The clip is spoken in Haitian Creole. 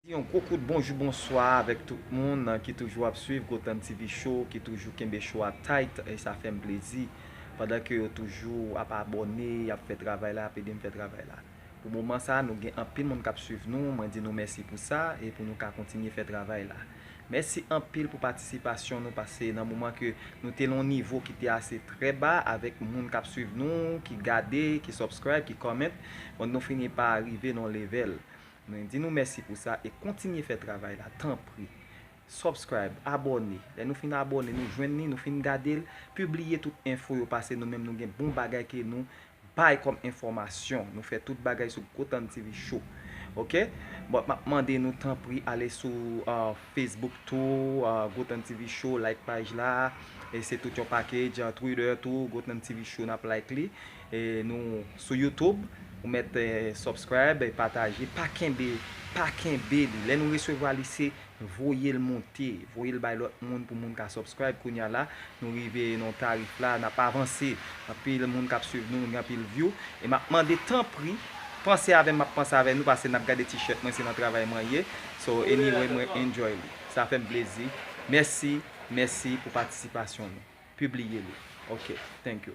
Yon gwo kout bonjou bonswa avèk tout moun ki toujou ap swiv Gotham TV Show, ki toujou kenbe show a tight e sa fè m plezi pandan ke yo toujou ap abòne, y ap fè travay la, y ap ede m fè travay la. Pou moman sa a, nou gen anpil moun k ap swiv nou, mwen di nou mèsi pou sa e pou nou ka kontinye fè travay la. Mèsi anpil pou patisipasyon nou pase nan moman ke nou te lon nivo ki te ase trè ba avèk moun kap swiv nou ki gade ki subscribe ki comment bon nou fini pa rive non level mwen di nou mèsi pou sa e kontinye fè travay la tanpri subscribe abòne lè nou fin abòne nou jwenn li nou fin gadel pibliye tout enfo yo pase nou menm nou gen bon bagay ke nou Bay kòm enfòmasyon nou fè tout bagay sou gotan TV show ok bon map mande nou tanpri ale sou Facebook tou gotan TV show like paj la e se tout yon package Twitter tou gotan TV show nap like li e nou sou YouTube ou mèt subscribe pataje pa kenbe pa kenbe li lè nou resevwa li se Voyel monte, voyel bay lot moun pou moun ka subscribe kounya la nou rive nan tarif la nap avanse anpil moun kap swiv nou gen anpil view e map mande tanpri panse avèm map panse avè nou pase nap gade ti shirt mwen se nan travay mwen ye so anyway mwen enjoy li sa fèm plezi mèsi mèsi pou patisipasyon nou pibliye li ok thank you.